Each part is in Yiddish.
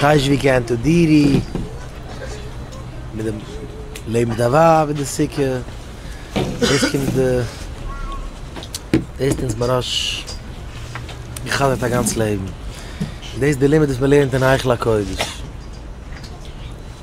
טייטש ווי קענט איר דירי מיט די לעבן מיט א ווייב אין די סוכה דאס קומט די דאס האט אונז ממש געחדר'ט א גאנץ לעבן דאס די לימוד וואס מען לערנט אין היכל הקודש.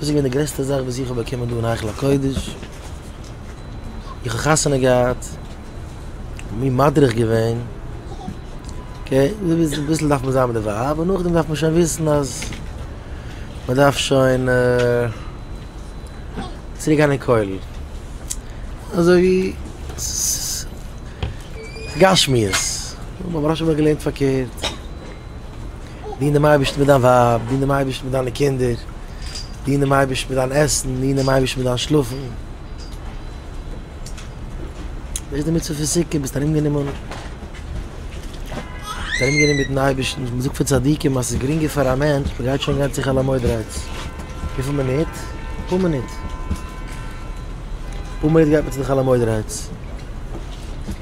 דאס איז געווען די גרעסטע זאך וואס איך האב באקומען דא אין היכל הקודש, איך האב חתונה געהאט, מיר מדריך געווען, אקעי, אביסל דארף מען זיין מיט די ווייב, און נאכדעם דארף מען שוין וויסן אז מען דארף שוין צוריק גיין אין כולל, אזוי ווי ס'איז גשמיות, אבער ברוך השם איך האב געלערנט פארקערט. דין דעם אייבערשטן מיט דיין ווייב, דין דעם אייבערשטן מיט דיינע קינדער, דין דעם אייבערשטן מיט דיין עסן, דין דעם אייבערשטן מיט דיין שלאפן. וואס איז די מצוה פון סוכה? ביסט ארומגענומען ביסט ארומגענומען מיטן אייבערשטן, מען זאגט פון צדיקים אז ס'איז גרינגער פאר א מענטש, מען גייט שוין גיין צו חול המועד רייץ, וויפיל מינוט? אפאר מינוט, אפאר מינוט גייט מען צו די חול המועד רייץ.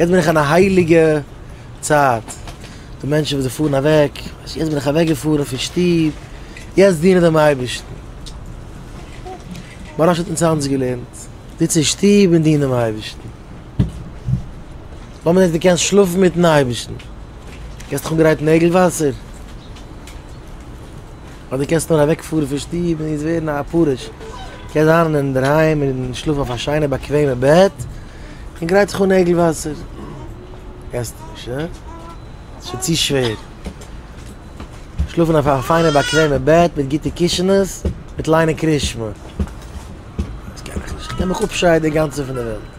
יעצט בין איך אין א הייליגע צייט, די מענטשן וואס זיי פארן אוועק, יעצט בין איך אוועק געפארן פון שטוב, יעצט דינען דעם אייבערשטן, מוהרא ש האט אונז היינט געלערנט, זיץ אין שטוב און דין דעם אייבערשטן, לאמיר זען צו דו קענסט שלאפן מיטן אייבערשטן, האסט דיך אנגערייט נעגל וואסער? אדער דו קענסט נאר אוועק פארן פון שטוב און יעצט ווערן א פרוש, קענסט זיין אינדערהיים און שלאפן אויף א שיינע באקוועמע בעט און גרייט זיך אן נעגל וואסער, קענסט נישט הא? ס'איז שוין צו שווער שלאפן אויף א פיינע באקוועמע בעט מיט גוטע קישענעס מיט ליינען קרישמע, דאס קען איך נישט, איך קען מיך אפשיידן אינגאנצן פון די וועלט.